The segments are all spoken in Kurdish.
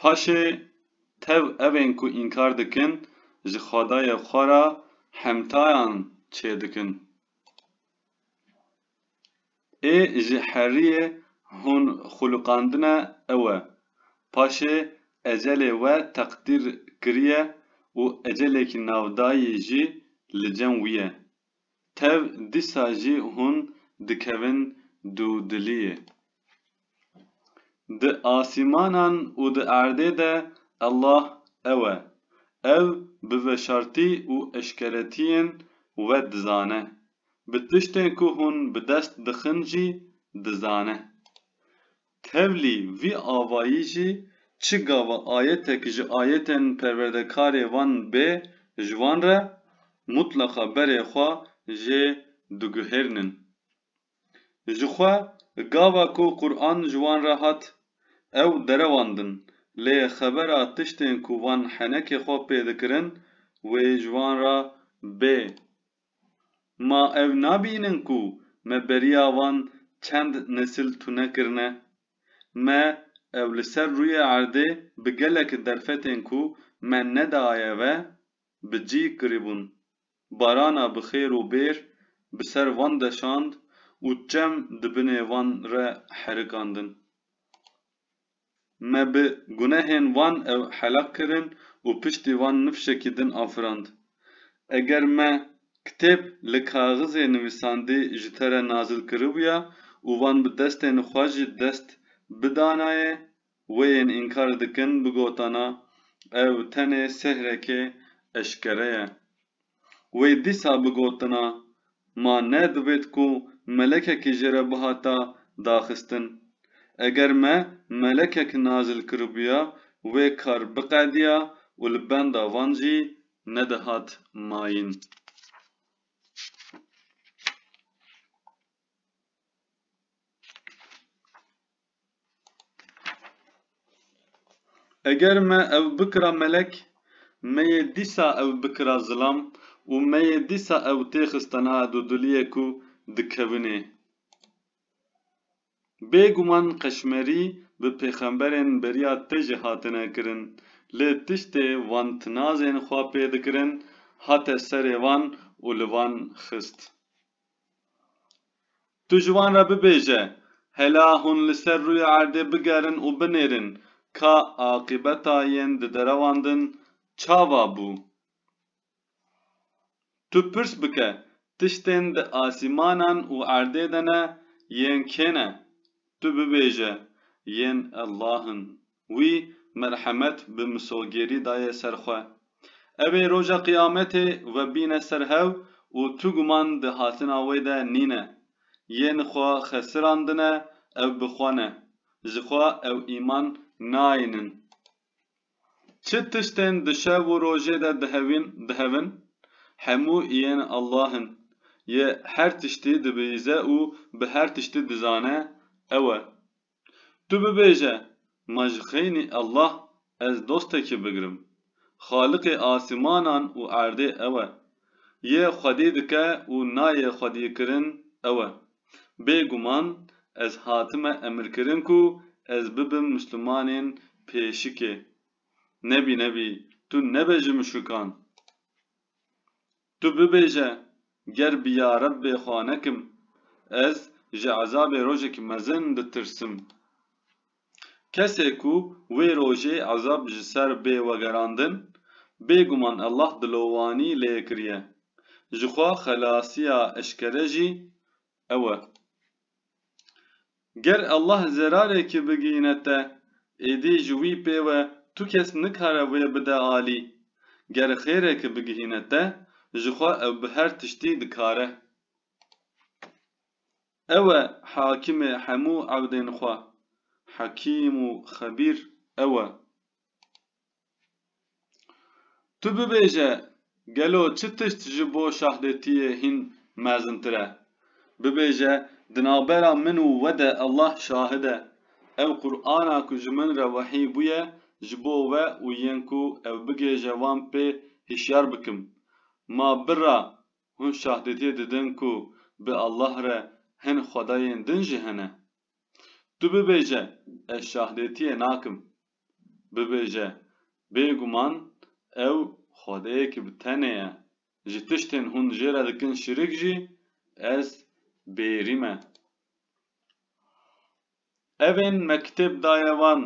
Paşê tev evên ku înkar dikin ji xwedayê xwe re hemtayan çêdikin. Ê ji heriyê hûn xwiliqandine ew e. Paşê ecelê we teqdîr kiriye û ecelekî navdayî jî li cem wî ye. Tev dîsa jî hûn dikevin dûdiliyê. Di asîmanan û di erdê de Allah ew e. Ew bi veşartî û eşkeretiyên we dizane. Bi tiştên ku hûn bi dest dixin jî dizane. Tevlî vî avayî jî çi gava ayetek ji ayetên perwerdekarê van bê ji wan re mutleqa berê xwe jê diguhêrnin. Ji xwe gava ku Quran ji wan re hat ew derewandin lê xebera tiştên ku van henekê xwe pê dikirin wê ji wan re bê. Ma ew nabînin ku me beriya wan çend nesil tune kirine? Me ew li ser rûyê erdê bi gelek derfetên ku me nedaye ve bi cî kiribûn. Barana bi xêr û bêr bi ser wan deşand û çem di binê wan re herikandin. Me bi gunehên wan ew hela kirin û piştî wan nifşekî din afirand. Eger me kitêb li kaxizê nivîsandî ji te re nazil kiribûya û wan bi destên xwe jî dest bidanayê, wê yên înkar dikin bigotana, ew tenê sihrekê eşkere ye. Wê dîsa bigotina, Ma ne divêt ku melekekî jê re bihata daxistin. Eger me melekek nazil kiribûya, wê kar biqedîya û li benda van jî nedihat mayîn. Eger me ew bikira melek, me yê dîsa ew bikira zilam û me yê dîsa ew tê xistana dûdûliyê ku dikewinê. Bê guman qeşmerî bi pêxemberên beriya te jî hatine kirin, lê tiştê van tinazên xwe pê dikirin hate serê wan û li van xist. Tu ji wan re bibêje, Hela hûn li ser rûyê erdê bigerin û binêrin ka aqîbeta yên diderewandin çava bû. Tu pirs bike, Tiştên di asîmanan û erdê de ne, yên kê ne? Tu bibêje, Yên Allah in. Wî merhemet bi misogêrî daye ser xwe. Ew ê Roja Qiyametê webîne ser hew û tu guman di hatina wê de nîne. Yên xwe xesirandine ew bi xwe ne. Ji xwe ew îman nayînin. Çi tiştên di şev û rojê de dihewîn, dihevin? Hemû yên Allah in. Yê her tiştî dibihîze û bi her tiştî dizane, ew e. Tu bibêje, Ma ji xeynî Allah ez dostekê bigirim. Xaliqê asîmanan û erdê ew e. Yê xwedî dike û nayê xwedîkirin ew e. Bê guman ez hatime emirkirin ku ez bibim mislimanên pêşikê. Nebî nebî tu nebe ji muşrikan. Tu bibêje, Ger bi ya Rebbê xwe nekim, ez ji ezabê rojek mezin ditirsim. Kesê ku wê rojê ezab ji ser bê wegerandin, bêguman Allah dilowanî lê kiriye. Jixwe xelasiya eşkere jî ew e. Ger Allah zerarekê bigihîne te, êdî ji wî pê we tu kes nikare wê bide alî. Ger xêreke bigihîne te, ji xwe ew bi her tiştî dikare. Ew e Hakimê hemû ewdên xwe, Hekîm û Xebîr ew e. Tu bibêje gelo çi tişt ji bo şahdetiyê hîn mezintir e? Bibêje di navbera min û we de Allah şahid e, ev Qur'ana ku ji min re wehî bûye ji bo we û yên ku ew bigêje wan pê hişyar bikim. Ma birra hûn şahdetiyê didin ku bi Allah re hin xwedayên din jî hene? Tu bibêje ez şahdetiyê nakim. bibêje, bêguman ew Xwedeyekî bi tenê ye, ji tiştên hûn jê re dikin şirik jî ez bêrî me. Evên me kitêb daye wan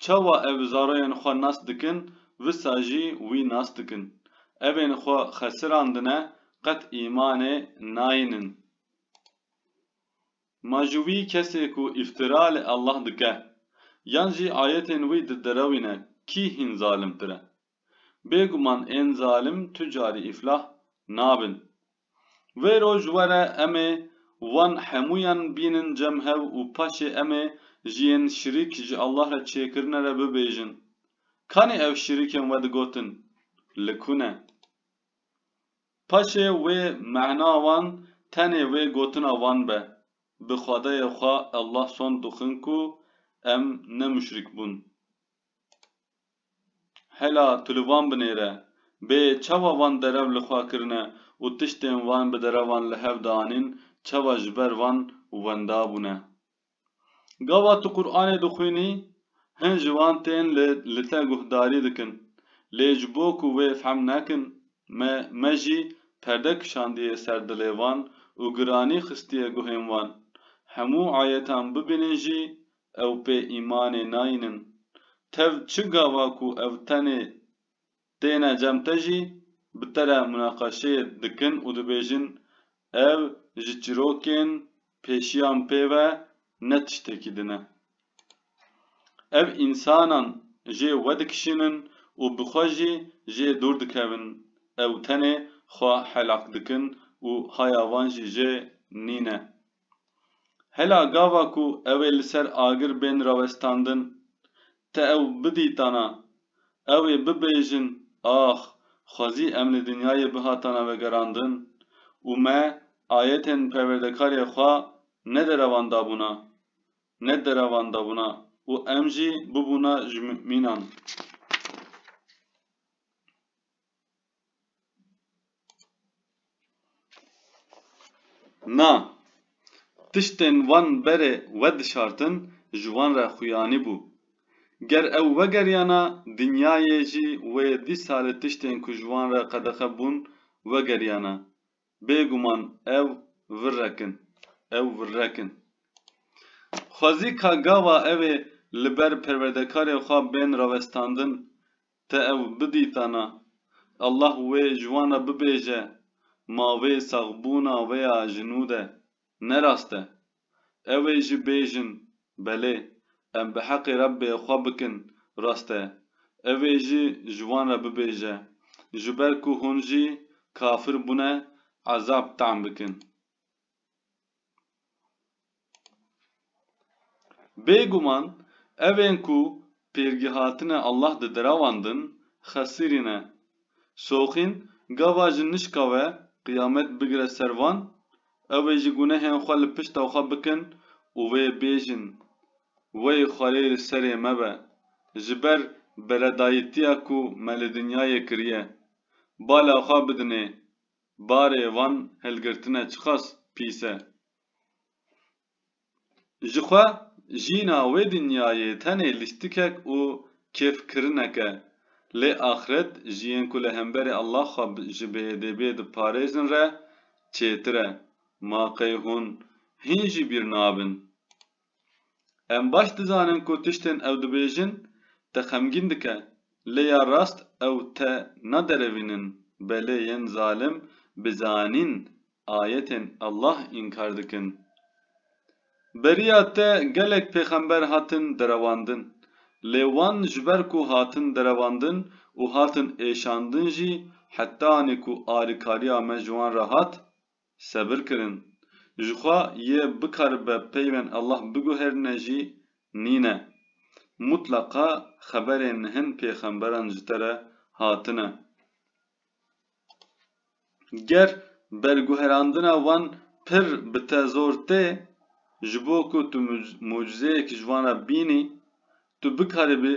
çawa ev zaroyên xwe nas dikin wisa jî wî nas dikin. Evên xwe xesirandine qet îmanê nayînin. Ma ji wî kesê ku îftira li Allah dike yan jî ayetên wî didirewîne kî hîn zalimtir e? Bêguman ên zalim tu carî îflah nabin. Wê roj were emê wan hemûyan bînin cem hev û paşê emê ji yên şirîk ji Allah re çêkirine re bibêjin, Kanê ev şirîkên we digotin li ku ne? Paşê wê mehna wan tenê wê gotina wan be, Bi xwedayê xwe Allah sond dixwin ku em ne muşrik bûn. Hela tu li wan binêre, bê çawa wan derev li xwe kirine û tiştên wan bi derevan li hev de anîn, çawa ji ber wan wenda bûne. Gava tu Quranê dixwînî, hin ji wan tên li te guhdarî dikin. Lê ji bo ku wê fehm nekin, me me jî perde kişandiye ser dilê wan û giranî xistiye guhên wan. Hemû ayetan bibînin jî ew pê îmanê nayînin. Tev çi gava ku ew tenê Têne cem te jî bi te re munaqeşeyê dikin û dibêjin ev ji çîrokên pêşiyan pê ve ne tiştekî din e. Ev însanan jê wedikişînin û bi xwe jî jê dûr dikevin, ew tenê xwe helak dikin û haya wan jî jê nîne. Hela gava ku ew ê li ser agir bên rawestandin, te ew bidîtana, ew ê bibêjin ax xwezî em li dinyayê bihatana vegerandin û me ayetên Perwerdekarê xwe nederevandabûna, nederevandabûna û em jî bûbûna ji mumînan. Na, tiştên wan berê wedişartin ji wan re xuyanî bû. Ger ew wegeriyana dinyayê jî wê dî salê tiştên ku ji wan re qedexe bûn wegeriyana. Bêguman ew virrek in. Ew virrek in. Xwezî ka gava ew ê li ber perwerdekarê xwe bên rawestandin, Te ew bidîtana? Allah wê ji wan re bibêje, Mavê saxbûna wê ya ji nû de ne rast e. Ew ê jî bêjin, Belê, em bi heqê Rebbê xwe bikin rast e. Ew ê jî ji wan re bibêje, Ji ber ku hûn jî kafir bûne, ezab tam bikin. Bêguman evên ku pêrgî hatine Allah di dirawandin xesirî ne. Soxîn gava ji nişka we qiyamet bigire ser van, ew ê ji gunehên xwe li pişta xwe bikin û wê bêjin, Wey xwerê li serê me be, ji ber beredayîtiya ku me li dinyayê kiriye. Bala xwe bidinê Barê van hilgirtine çiqas pîs e. Jixwe jîna wê dinyayê tenê lîstikek û kêfkirinek e. Lê axiret ji yên ku li hemberî Allah xwe ji bêedebiyê diparêzin re çêtir e. Ma qey hûn hîn jî bîr nabin? Em baş dizanin ku tiştên ew dibêjin te xemgîn dike, lê ya rast ew te naderevînin, belê yên zalim bi zanîn ayetên Allah înkar dikin. Beriya te gelek pêxember hatin derewandin, lê wan ji ber ku hatin derewandin û hatin êşandin jî heta anî ku alîkariya me ji wan re hat, Sebir kirin. Jixwe yê bikaribe peyvên Allah biguherîne jî nîne. Mutleqa xeberên hin pêxemberan ji te re hatine. Ger berguherandina wan pir bi te zor tê, ji bo ku tu mucizeyek ji wan re bînî, tu bikaribî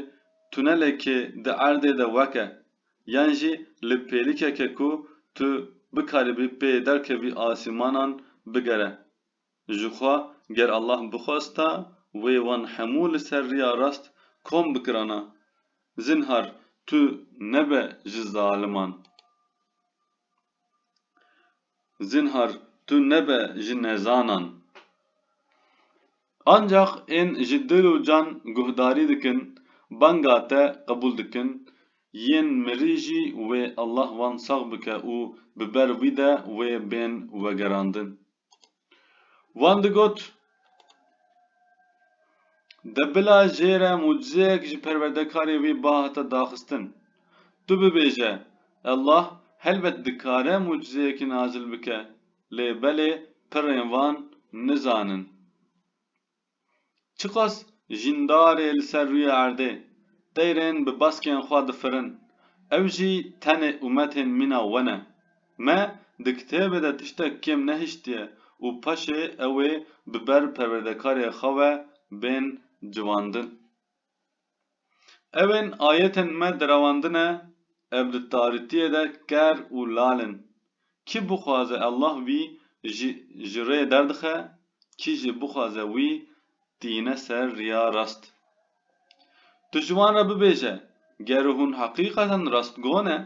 tunelekê di erdê de weke, Yan jî li pêlikeke ku tu bikaribî pê derkevî asîmanan bigere. Jixwe ger Allah bixwesta wê wan hemû li ser riya rast kom bikirana. Zinhar tu nebe ji zaliman. Zinhar tu nebe ji nezanan. Ancax ên ji dil û can guhdarî dikin banga te qebûl dikin, yên mirî jî wê Allah wan sax bike û bi ber wî de wê bên wegerandin. Wan digot, De bila jê re mucizeyek ji perwerdekarê wî ba hate daxistin. Tu bibêje, Allah helbet dikare mucizeyekî nazil bike, lê belê pirên wan nizanin. Çiqas jîndarê li ser rûyê erdê, teyrên bi baskên xwe difirin, ew jî tenê û metên mîna we ne. Me di kitêbê de tiştek kêm nehiştiye û paşê ew ê bi ber perwerdekarê xwe ve bên civandin. Ew ên ayetên me direwandine ev li tarîtiyê de ker û lal in. Kî bixwaze Allah wî ji ji rê derdixe, kî jî bixwaze wî tîne ser riya rast. Tu ji wan re bibêje, Gero hûn heqîqeten rastgo ne?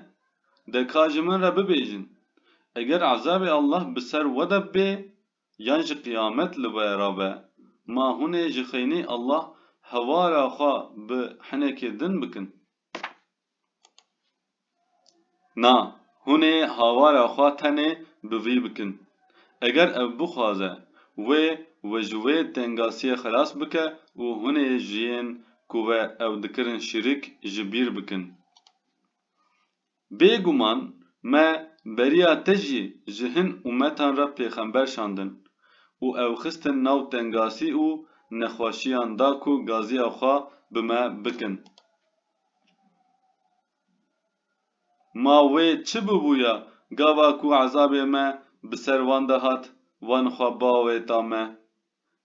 De ka ji min re bibêjin, Eger ezabê Allah bi ser we de bibê, Yan ji qiyamet li we re be. Ma hunê ji xeynî Allah hewara xwe bi hinekê din bikin. Na, hunê hawara xwe tenê bi vî bikin. Eger ev bixwaze wê we ji wê tengasiyê xelas bike û hunê ji yên ku we ew dikirin şirik ji bîr bikin. Bêguman me beriya te jî ji hin umetan re pêxember şandin û ew xistin nav tengasî û nexweşiyan da ku gaziya xwe bi me bikin. Ma wê çi bibûya gava ku ezabê me bi ser wan de hat, wan xwe bawê da me.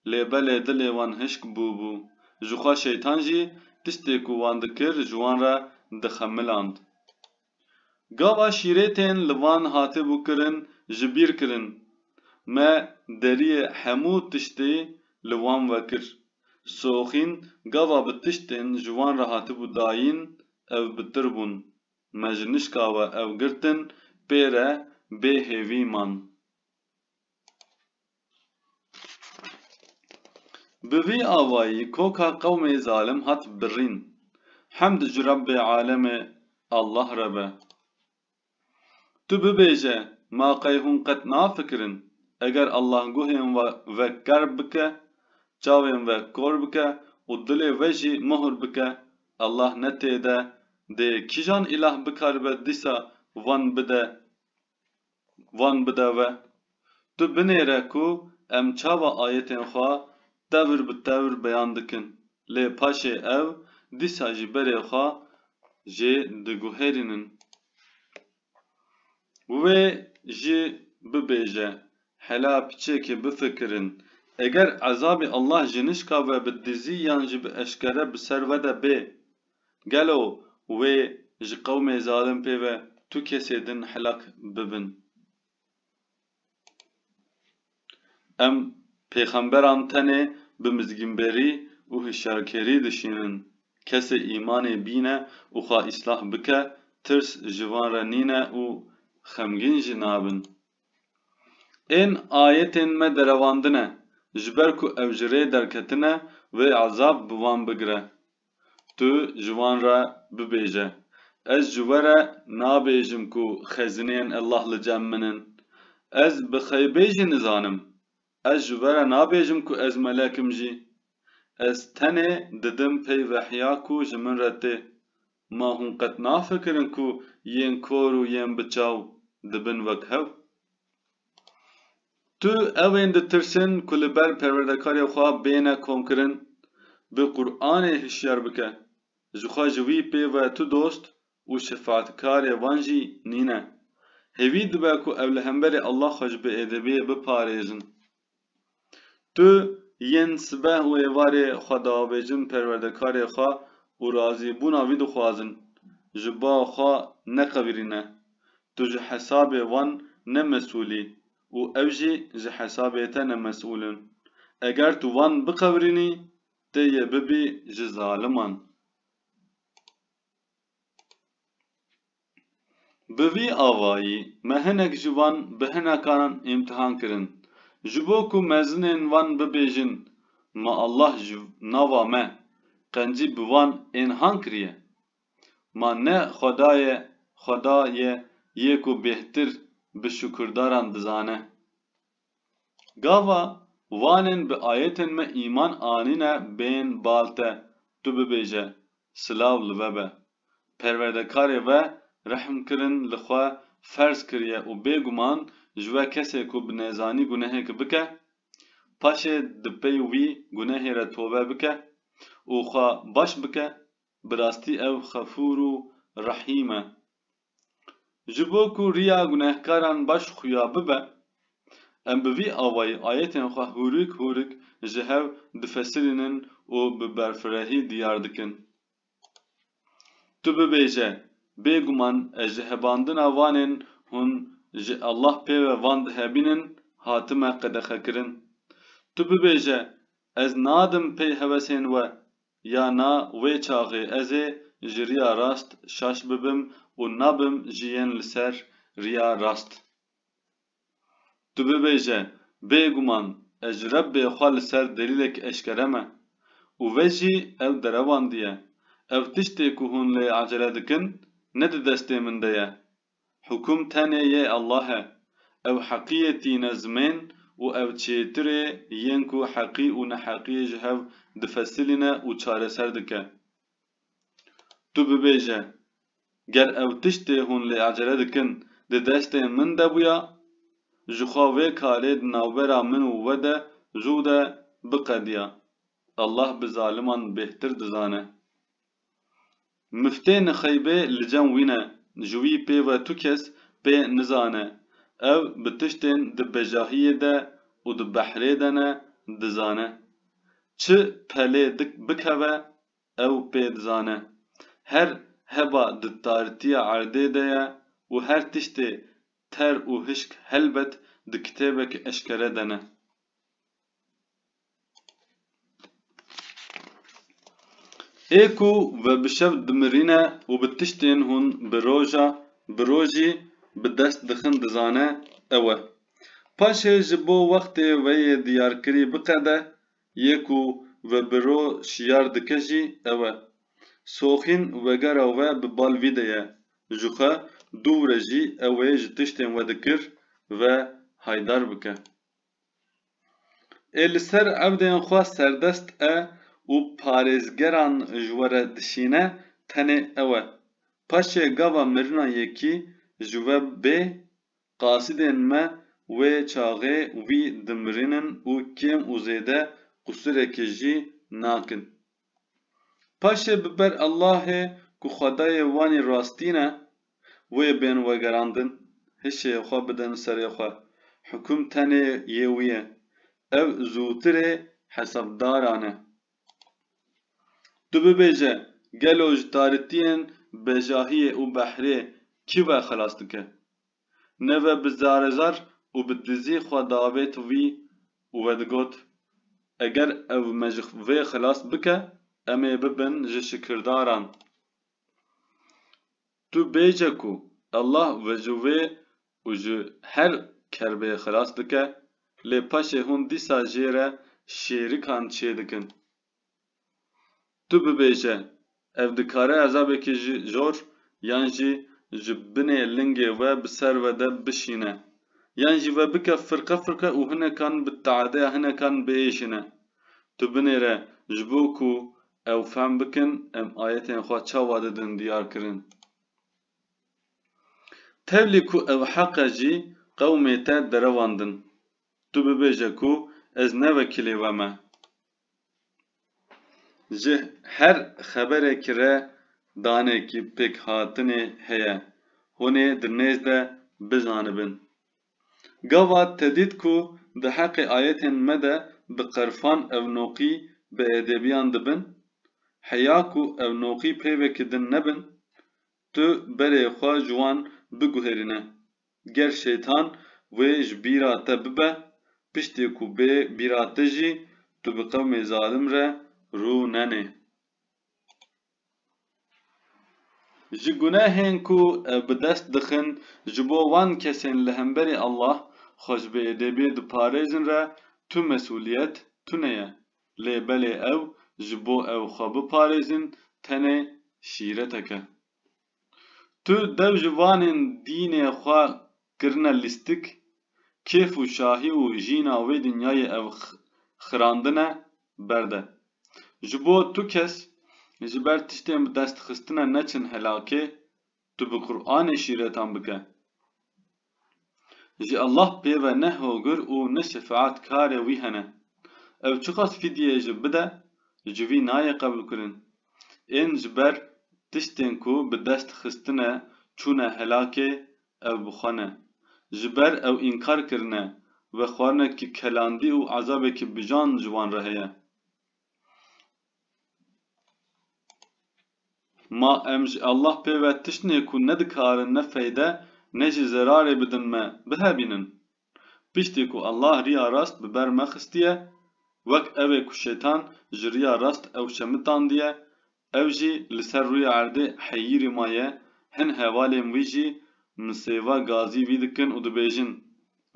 Lê belê dilê wan hişk bûbû. Jixwe Şeytan jî tiştê ku wan dikir ji wan re dixemiland. Gava şîrêtên li van hatibû kirin ji bîr kirin. Me deriyê hemû tiştê li wan vekir. Soxîn gava bi tiştên ji wan re hatibû dayîn ew bitir bûn. Me ji nişka we ew girtin pê re bê hêvî man. Bi vî avayî koka qewmê zalim hat birîn. Hemd ji Rebbê Alemê Allah re be. Tu bibêje ma qey hûn qet nafikirin eger Allah guhên ve kerb bike, çavên ve kor bike û dilê ve jî muhur bike Allah ne têde dê kîjan îlah bikaribe dîsa van bide Van bide ve. Tu binêre ku em çawa ayetên xwe tevr bi tevr beyan dikin, lê paşê ew dîsa jî berê xwe jê diguherînin. Wê jî bibêje, Hela piçekê bifikirin, eger ezabê Allah ji nişka ve bi dizî yan jî bi eşkere bi ser we de bê, Gelo wê ji qewmê zalim pê ve tu kesê din helak bibin? Em pêxemberan tenê bi mizgînberî û hişyarkerî dişînin. Kesê îmanê bîne û xwe îslah bike, tirs ji wan re nîne û xemgîn jî nabin. Ên ayetên me derewandine, ji ber ku ew ji rê derketine, wê ezab bi wan bigire. Tu ji wan re bibêje, Ez ji we re nabêjim ku xezineyên Allah li cem min in. Ez bi xeybê jî nizanim. Ez ji we re nabêjim ku ez melek im jî. Ez tenê didim pey vehya ku ji min re tê. Ma hûn qet nafikirin ku yên kor û yên bi çaw dibin wek hev? Tu ewên ditirsin ku li ber perwerdekarê xwe bêne komkirin, bi Quranê hişyar bike. Jixwe ji wî pê ve tu dost û şefaatkarê wan jî nîne. Hêvî dibe ku ew li hemberê Allah xwe ji biêdebiyê biparêzin. Tu yên sibeh û êvarê xwe diavêjin perwerdekarê xwe û razîbûna wî dixwazin. Ji ba xwe neqewirîne. Tu ji hesabê wan ne mesûl î û ew jî ji hesabê te ne mesûl in. Eger tu wan biqewirînî, tê yê bibî ji zaliman. Bi vî avayî me hinek ji wan bi hinekan îmtihan kirin. Ji bo ku mezinên wan bibêjin Ma Allah ji nava me qencî bi wan ên han kiriye. Ma ne Xweda ye Xweda ye yê ku bêhtir bi şukurdaran dizane. Gava vanên bi ayetên me îman anîne bên bal te, tu bibêje, Silav li ve be. Perwerdekarê ve rehmkirin li xwe ferz kiriye û bêguman ji we kesê ku bi nezanî gunehêk bike, paşê di pey wî gunehê re tobe bike û xwe baş bike, bi rastî ew xefûr û rehîm e. Ji bo ku riya gunehkaran baş xuya bibe, em bi vî awayî ayetên xwe hûrik hûrik ji hev difesirînin û bi berfirehî diyar dikin. Tu bibêje, Bêguman ez ji hebandina vanên hûn ji Allah pê ve van dihebînin hatime qedexekirin. Tu bibêje, Ez nadim pey hewesên we, Ya na wê çaxê ez ê ji riya rast şaş bibim û nabim ji yên li ser riya rast. Tu bibêje, Bêguman ez ji Rebbê xwe li ser delîlek eşkere me. Û ve jî ew derewandiye, Ew tiştê ku hûn lê ecele dikin, ne di destê min de ye. Hukum tenê yê Allah e. Ew heqiyê tîne zimên û ew çêtir ê yên ku heqî û neheqiyê ji hev difesilîne û çareser dike. Tu bibêje, Ger ew tiştê hûn lê acele dikin di destê min de bûya, ji xwe vê karê di navbera min û we de zû de biqediya. Allah bi zaliman bêhtir dizane. Miftê Nixeybê li cem wî ne, ji wî pê ve tu kes pê nizane. Ew bi tiştên di bejahiyê de û di behrê de ne dizane. Çi pelê bikeve ew pê dizane. Her heba di tartiya erdê de ye û her tiştê ter û hişk helbet di kitêbek eşkere de ne. Ê ku ve bi şev dimirîne û bi tiştên hûn bi roja bi rojî bi dest dixin dizane ew e. Paşê ji bo wextê ve yê diyarkirî biqede, yê ku ve bi ro şiyar dike jî ew e. Soxîn wegera we bi bal vî de ye, ji xwe dû wire jî ew ê ji tiştên we dikir ve haydar bike. Ê li ser ewdeyên xwe serdest e û parêzgeran ji we re dişîne tenê ew e. Paşê gava mirina yekî ji we bê, qasidên me wê çaxê wî dimirînin û kêm û zêde qûsireke jî nakin. Paşê bi ber Allahê ku Xwedayê wan î rastîn e, wê bên wegerandin, hişê xwe bidin serê xwe, hukûm tenê yê wî ye, ew zûtirê hesabdaran e. Tu bibêje, gelo ji taritiyên bejahiyê û behrê kî we xilas dike? Neve bi zarezar û bi dizî xwe davêt wî û vedigot, Eger ew me ji vê xilas bike, em ê bibin ji şikirdaran. Tu bêje ku Allah ve ji wê û ji her kerbê xilas dike, lê paşê hûn dîsa jê re şêrikan çêdikin. Tu bibêje, ev dikare ezabekî ji jor yan jî ji binê lingê we bi ser we de bişîne, yan jî ve bike firqe firqe û hinekan bi teadeya hinekan biêşine. Tu binêre ji bo ku ew fehm bikin em ayetên xwe çawa didin diyar kirin. Tevlî ku ew heq e jî qewmê te derewandin. Tu bibêje ku ez ne wekîlê we me. Ji her xeberekî re danekî pêkhatinê heye, hûn ê di nêz de bizanibin. Gava tedît ku di heqê ayetên me de bi qerfan ewnoqî biêdêbiyan dibin, heya ku ewnoqî peyvekî din nebin, tu berê xwe ji wan biguherîne. Ger şeytan wê ji bîra te bibe, piştê ku bê bîra te jî, tu bi qewmê zalim re rû nenê. Ji gunehên ku ew bi dest dixin ji bo wan kesên li hemberî Allah, xwe ji bê êdêbê diparêzin re tu mesûliyet tune ye. Lê belê ew ji bo ew xwe biparêzin tenê şîretek e. Tu dew ji vanên dînê xwe kirine lîstik, kêf û şahî û jîna wê dinyayê ev xirandine berde. Ji bo tu kes ji ber tiştên bi dest xistine neçin helakê, tu bi Quranê şîretan bike. Ji Allah pê ve ne hogir û ne şefaet karê wî hene. Ew çiqas fîdyeyê jî bide ji wî nayê qebûlkirin. Ên ji ber tiştên ku bi dest xistine çûne helakê ew bi xwe ne. Ji ber ew înkar kirine ve xwarinekî kelandî û ezabekî bijan ji wan re heye. Ma em ji Allah pê ve tiştnê ku nedikarin ne feyde ne jî zerarê bidin me, bihevînin. Piştî ku Allah riya rast bi ber me xistiye, wek evê ku Şeytan ji riya rast ew şemitandiye, ew jî li ser rûyê erdê heyîrî ma ye, hin hevalên wî jî misêva gazî vî dikin û dibêjin,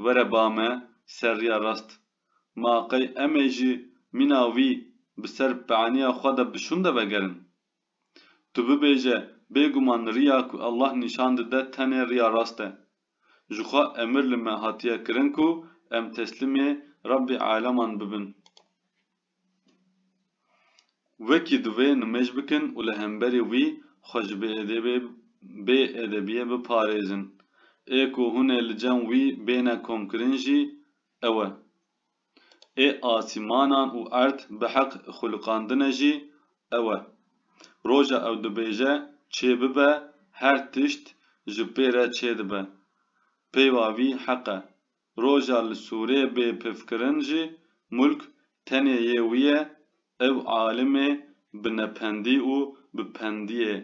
Were ba me ser riya rast, Ma qey em ê ji mîna wî bi ser pianiya xwe de bi şûnde vegerin? Tu bibêje bêguman riya ku Allah nîşan dide tenê riya rast e. Jixwe emir li me hatiye kirin ku em teslîmê Rebbê aleman bibin. Wekî divê nimêj bikin û li hemberî wî xwe ji bêedebiyê biparêzin. Ê ku hûn ê li cem wî bêne komkirin jî, ew e. Ê asîmanan û erd bi heq xulqandine jî ew e. Roja ew dibêje çê bibe her tişt ji pê re çê dibe. Peyva vî heq e. Roja li sûrê bê pifkirin jî mulk tenê yê wî ye, ew alimê bi nependî û bi pendiyê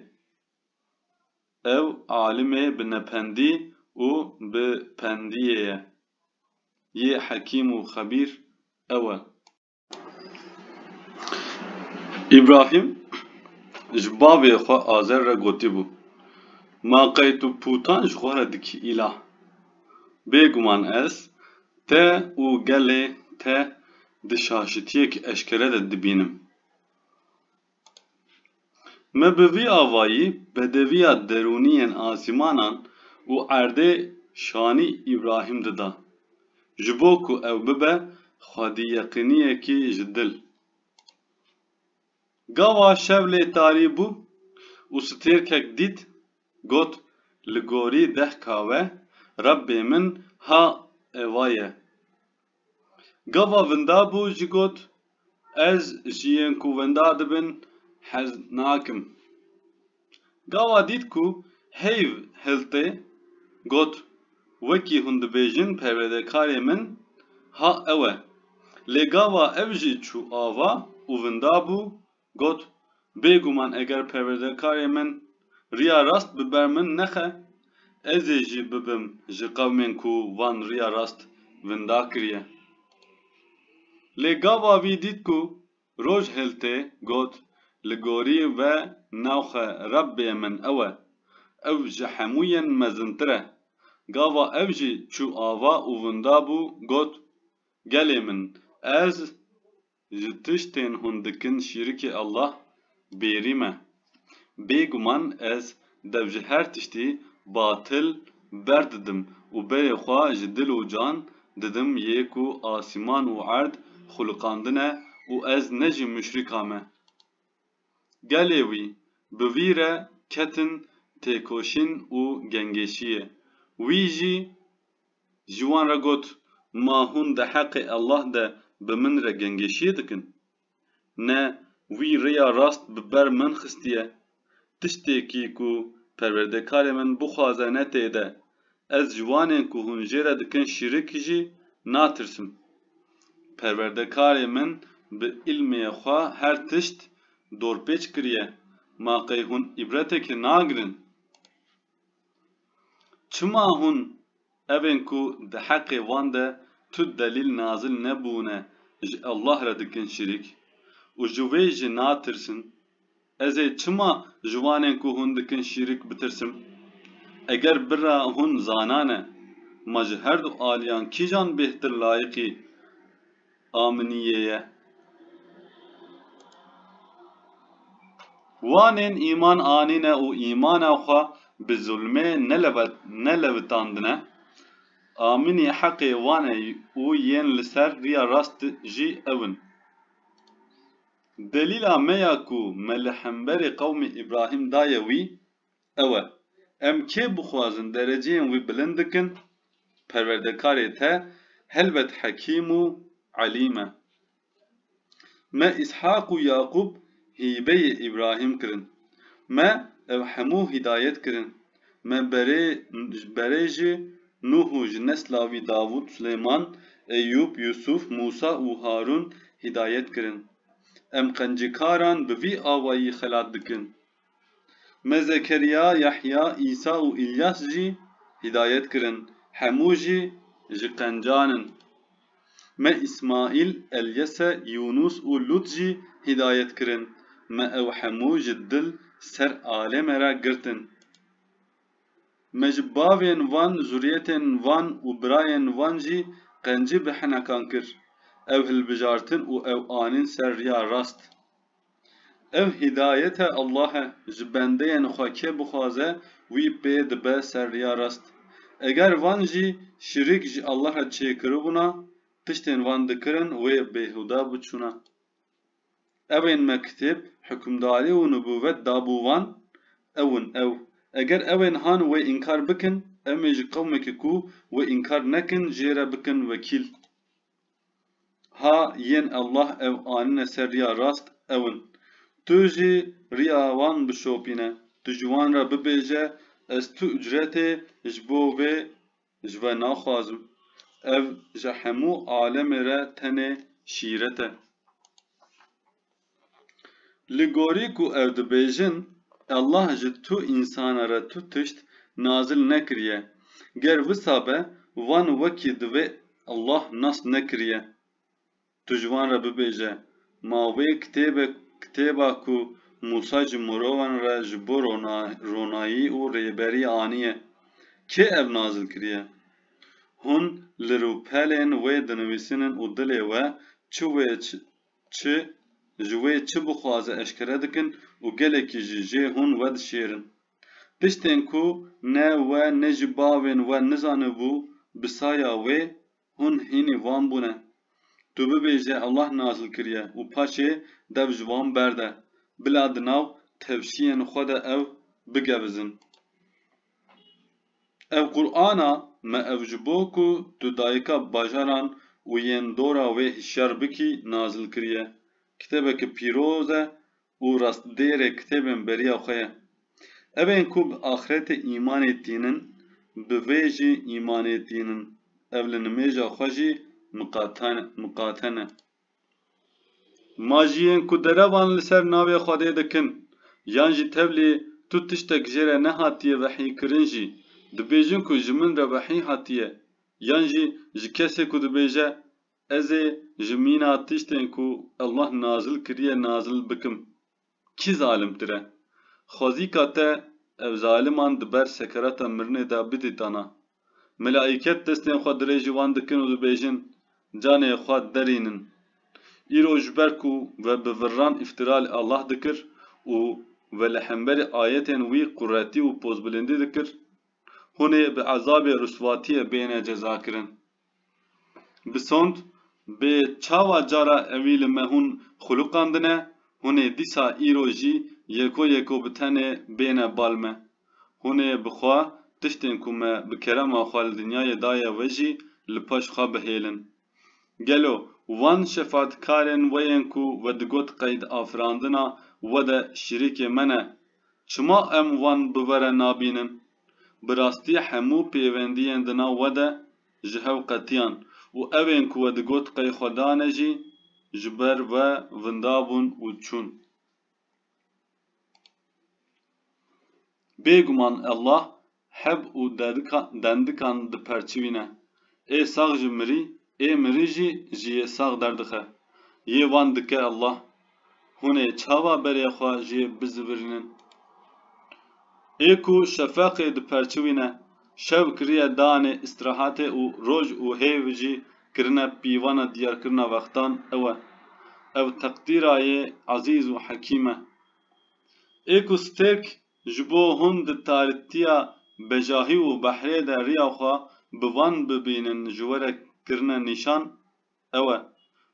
Ew alimê bi nependî û bi pendiyê ye. Yê hekîm û xebîr ew e. Îbrahîm ji bavê xwe Azer re gotibû, Ma qey tu pûtan ji xwe re dikî îlah? Bêguman ez te û gelê te di şaşitiyek eşkere de dibînim. Me bi vî avayî bedeviya derûnî yên asîmanan û erdê şanî Îbrahîm dida. Ji bo ku ew bibe xwedîyeqîniyekî ji dil. Gawa şev lê tarî bû û stêrkek dît, got, Li gorî deh kawe, Rebbê min ha eva ye. Gava vinda bû jî got, Ez ji yên ku winda dibin hez nakim. Gava dît ku heyv hiltê, got, Wekî hûn dibêjin perwêdekarê min ha ew e. Lê gava ev jî çû ava û vinda bû Got, Bêguman eger perwerdekarê min riya rast bi ber min nexe, ez ê jî bibim ji qewmên ku van riya rast vinda kiriye. Lê gava vî dît ku roj hêl tê, got, Li gorî ve navxe Rebbê min ew e, ew ji hemû yên mezintir e. Gava ev jî çû ava û vinda bû, got, Gelê min, ez. Ji tiştên hûn dikin şîrikê Allah bêrî me. Bêguman ez dev ji her tiştî batil berdidim û berê xwe ji dil û can didim yê ku asîman û erd xulqandine û ez ne ji muşrîka me. Gelê wî, bi wî re ketin têkoşîn û gengêşiyê. Wî jî. Ji wan re got, Ma hûn di heqê Allah de bi min re gengeşiyê dikin? Ne wî rêya rast bi ber min xistiye. Tiştekî ku Perwerdekarê min bixwaze ne tê de. Ez ji wanên ku hûn jê re dikin şîrik jî natirsim. Perwerdekarê min bi îlmê xwe her tişt dorpêç kiriye. Ma qey hûn îbreteke nagirin? Çima hûn evên ku di heqê wan de tu delîl nazil nebûne ji Allah re dikin şirîk û ji wê jî natirsin? Ez ê çima ji wanên ku hûn dikin şirîk bitirsim? Eger bira hûn zanane, ma ji herdu aliyan kîjan bêhtir layiqî a minî yê ye. Wanên îman anîne û îmana xwe bi zulmê nelewitandine, a minî heqê wan e û yên li ser riya rast jî ew in. Delîla me ya ku me li hemberî qewmê Îbrahîm daye wî, ew e, em kê bixwazin dereceyên wî bilind bikin, perwerdekarê te helbet hekîm û elîm e. Me Îshaq û Yaqûb hîbeyê Îbrahîm kirin. Me ew hemû hîdayet kirin. Me berê berê jî Nuh û ji nesla wî Davûd, Silêman, Eyûb, Yûsûf, Mûsa û Harûn hîdayet kirin. Em qencikaran bi vî awayî xelat dikin. Me Zekeriya, Yehya, Îsa û Îlyas jî hîdayet kirin, hemû jî ji qencan in. Me Îsmaîl, Elyese, Yûnûs û Lût jî hîdayet kirin, me ew hemû ji dil ser alê me re girtin. Me ji bavên van, zuriyetên van û birayên van jî qencî bi hinekan kir, ew hilbijartin û ew anîn ser riya rast. Ev hîdayete Allah e, ji bendeyên xwe kê bixwaze wî pê dibe ser riya rast. Eger van jî şirîk ji Allah re çêkiribûna, tiştên van dikirin wê bêhude biçûna. Ewên me kitêb, hukmdarî û nubûvet dabû van, ew in ew. Eger ewên han wê înkar bikin, em ê ji qewmekî ku wê înkar nekin jê re bikin wekîl. Ha yên Allah ew anine ser riya rast ew in. Tu jî riya wan bişopîne. Tu ji wan re bibêje ez tu ucretê ji bo vê ji we naxwazim. Ev ji hemû alemê re tenê şîret e. Li gorî ku ew dibêjin, Allah ji tu însana re tu tişt nazil nekiriye, ger wisa be wan wekî divê Allah nasb nekiriye. Tu ji wan re bibêje, Ma wê kitêbe kitêba ku Mûsa ji mirovan re ji bo ronayî û rêberî aniye, kê ev nazil kiriye? Hûn li rûpelên wê dinivîsînin û dilê we çi wê Çi, ji wê çi bixwaze eşkere dikin û gelekî jî jê hûn wedişêrin. Piştên ku ne we ne jî bavên we nizanibû bi saya wê, hûn hînî wan bûne. Tu bibêje Allah nazil kiriye û paşê dev ji wan berde, bila di nav tevşiyên xwe de ew bigevizin. Ev Qur'ana me ev ji bo ku tu dayika bajaran û yên dora wê hişyar bikî nazil kiriye. Kitêbeke pîroz e û rastdêrê kitêbên beriya xwe ye. Evên ku bi axretê îmanê tînin, bi vê jî îmanê tînin. Ev li nimêja xwe jî miqate ne. Ma jiyên ku derevan li ser navê Xwedê dikin yan jî tevlî tu tiştek jê re nehatiye vehîkirin jî dibêjin ku ji min re vehî hatiye yan jî ji kesê ku dibêje ez ê ji mîna tiştên ku Allah nazil kiriye nazil bikim. Kî zalimtir e? Xwezîka te ev zaliman di ber sekerata mirinê de bidî dana. Milaîket destên xwe dirêjî wan dikin û dibêjin, Canê xwe derînin. Îro ji ber ku we bi virran îftîra li Allah dikir û we li hemberî ayetên wî quretî û pozbilindî dikir, hûn ê bi ezabê riswatiyê bêne cezakirin. Bi sond, bi çawa cara ewî li me hûn xuluqandine, hûn ê dîsa îro jî yeko yeko bi tenê bêne bal me. Hûn ê bi xwe tiştên ku me bi kerema xwe li dinyayê daye we jî li paş xwe bihêlin. Gelo wan şefatkarên we yên ku we digot qeyd afirandina we de şirîkê me ne? Çima em wan bi we re nabînin? Bi rastî hemû pêwendiyên di nav we de ji hev qetiyan û evên ku we digot qey xwe dane jî ji ber we vinda bûn û çûn. Bêguman Allah heb û dendikan diperçivîne. Ê sax ji mirî Ê mirî jî ji yê sax derdixe. Yê wan dike Allah. Hûn ê çawa berê xwe ji yê bizivirînin? Ê ku şefeqê diperçiwîne, şev kiriye danê îstirahatê û roj û hêv jî kirine pîvana diyarkirina wextan ew e. Ev teqdîra yê ezîz û hekîm e. Ê ku stêrk Ji bo hûn di tarîtiya bejahî û behrê de riya xwe bi van bibînin ji we re kirine nîşan ew e.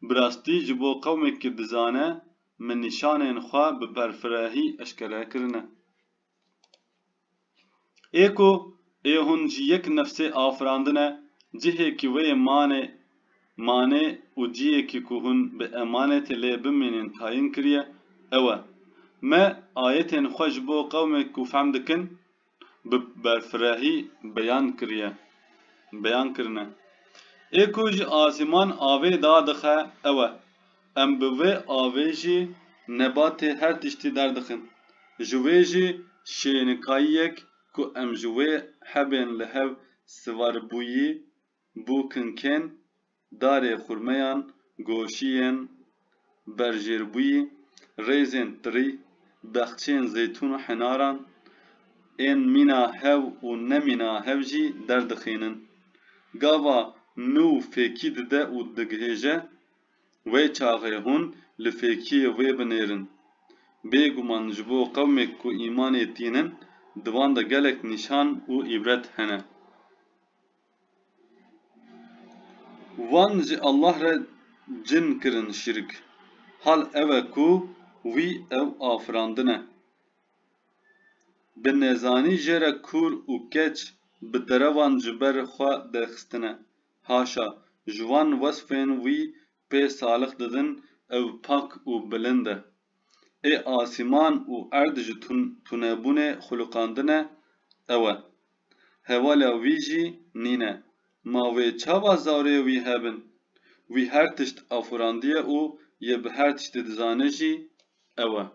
Bi rastî ji bo qewmê ku dizane min nîşanên xwe bi berfirehî eşkere kirine. Ê ku ê hûn ji yek nefsê afirandine, cihê ku wê yê manê Mane û ciyekî ku hûn bi emanetê lê bimînin tayin kiriye, ew e, Me ayetên xwe ji bo qewmê ku fehm dikin bi berfirehî beyan kiriye, beyan kirine. Ê ku ji asîman avê da dixe, ew e, Em bi vê avê jî nebatê her tiştî derdixin. Ji wê jî şênikayiyek ku em ji wê hebên li hev sivaribûyî Bûkinkên darê xurmeyan, goşiyên berjêrbûyî, rêzên tirî, bexçeyên zeytûn û henaran ên mîna hev û ne mîna hev jî derdixînin. Gava nû fêkî dide û digihêje, wê çaxê hûn li fêkiyê wê binêrin. Bêguman ji bo qewmêk ku îmanê tînin di van de gelek nîşan û îbret hene. Wan ji Allah re cin kirin şirk, hal ew e ku wî ew afirandine. Bi nezanî jê re kûr û keç bi derevan ji ber xwe derxistine, haşa, ji wan wesfên wî Pê salix didin ew pak û bilind e. Ê asîman û erd ji tunebûnê xulûqandine ew e. Hewala wî jî nîn e. Ma wê çawa zarê wî hebin? Wî her tişt afurandiye û yê bi her tiştî dizane jî ew e.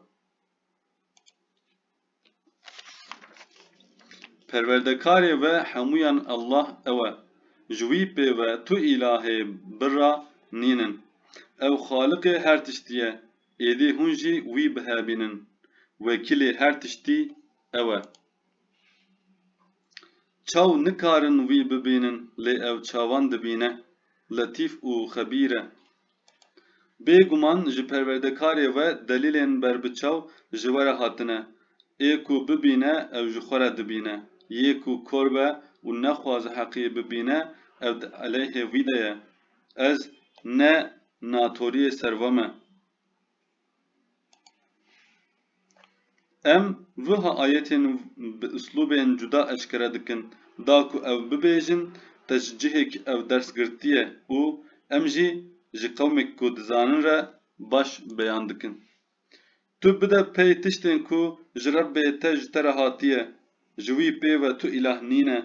Perwerdekarê we hemûyan Allah ew e. Ji wî pê ve tu îlahê birra nîn in. Ew xaliqê her tiştî ye, êdî hûn jî wî bihevînin. Wekîlê her tiştî ew e. Çaw nikarin wî bibînin lê ew çawan dibîne. Letîf û xebîr e. Bê guman ji perwerdekarê we delîlên berbiçaw ji we re hatine. Ê ku bibîne ew ji xwe re dibîne. Yê ku kor be û nexwaze heqî bibîne ew di eleyhê wî de ye. Ez ne natoriyê ser we me. Em wiha ayetên bi uslûbên cuda eşkere dikin, da ku ew bibêjin te ji cihekî ew ders girtiye û em jî ji qewmekî ku dizanin re baş beyan dikin. Tu bide pey tiştên ku ji Rebbê te ji te re hatiye, ji wî pê ve tu îlah nîne,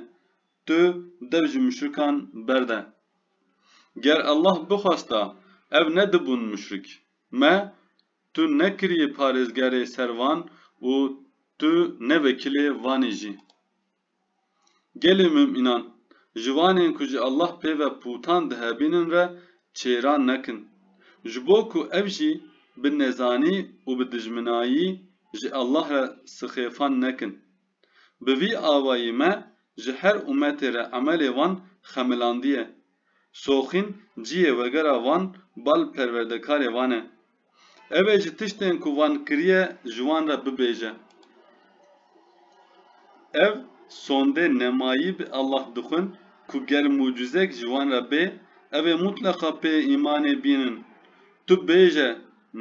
tu dev ji muşrikan berde. Ger Allah bixwesta ev nedibûn muşrik. Me tu nekiriye parêzgerê ser van û tu ne vekilê vanê jî. Gelê mumînan, ji wanên ku ji Allah pê ve pûtan dihebînin re çêran nekin. Ji bo ku ev jî bi nezanî û bi dijminayî ji Allah re sixêfan nekin. Bi vî awayî me ji her umetê re emelê wan xemilandiye. Soxîn ciyê wegera van bal perwerdekarê van e. Ew ê ji tiştên ku van kiriye ji wan re bibêje. Ev sondê nemayî bi Allah dixwin ku ger mucizek ji wan re bê ev ê mutleqa pê îmanê bînin. Tu bêje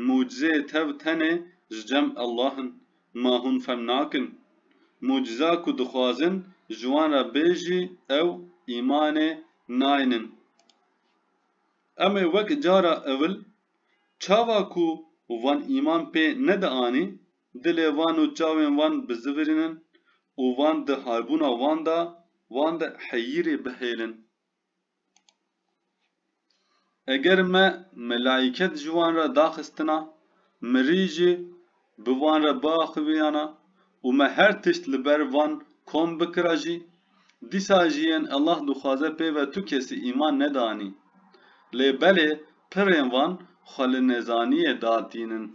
mucizeyê tev tenê ji cem Allah in. Ma hûn fehm nakin. Muciza ku dixwazin ji wan re bê jî ew îmanê naynin. Em ê wek cara ewil çawa ku wan îman pê nedianî, dilê wan û çawên wan bizivirînin û wan di halbûna wan de wan de heyîrê bihêlin. Eger me melaîket ji wan re daxistina, mirî jî bi wan re biaxiviyana û me her tişt li ber van kom bikira jî, dîsa jî yên Ellah dixwaze pêve tu kesî îman neda anî. Lê belê pirên van xwe li nezaniyê da tînin.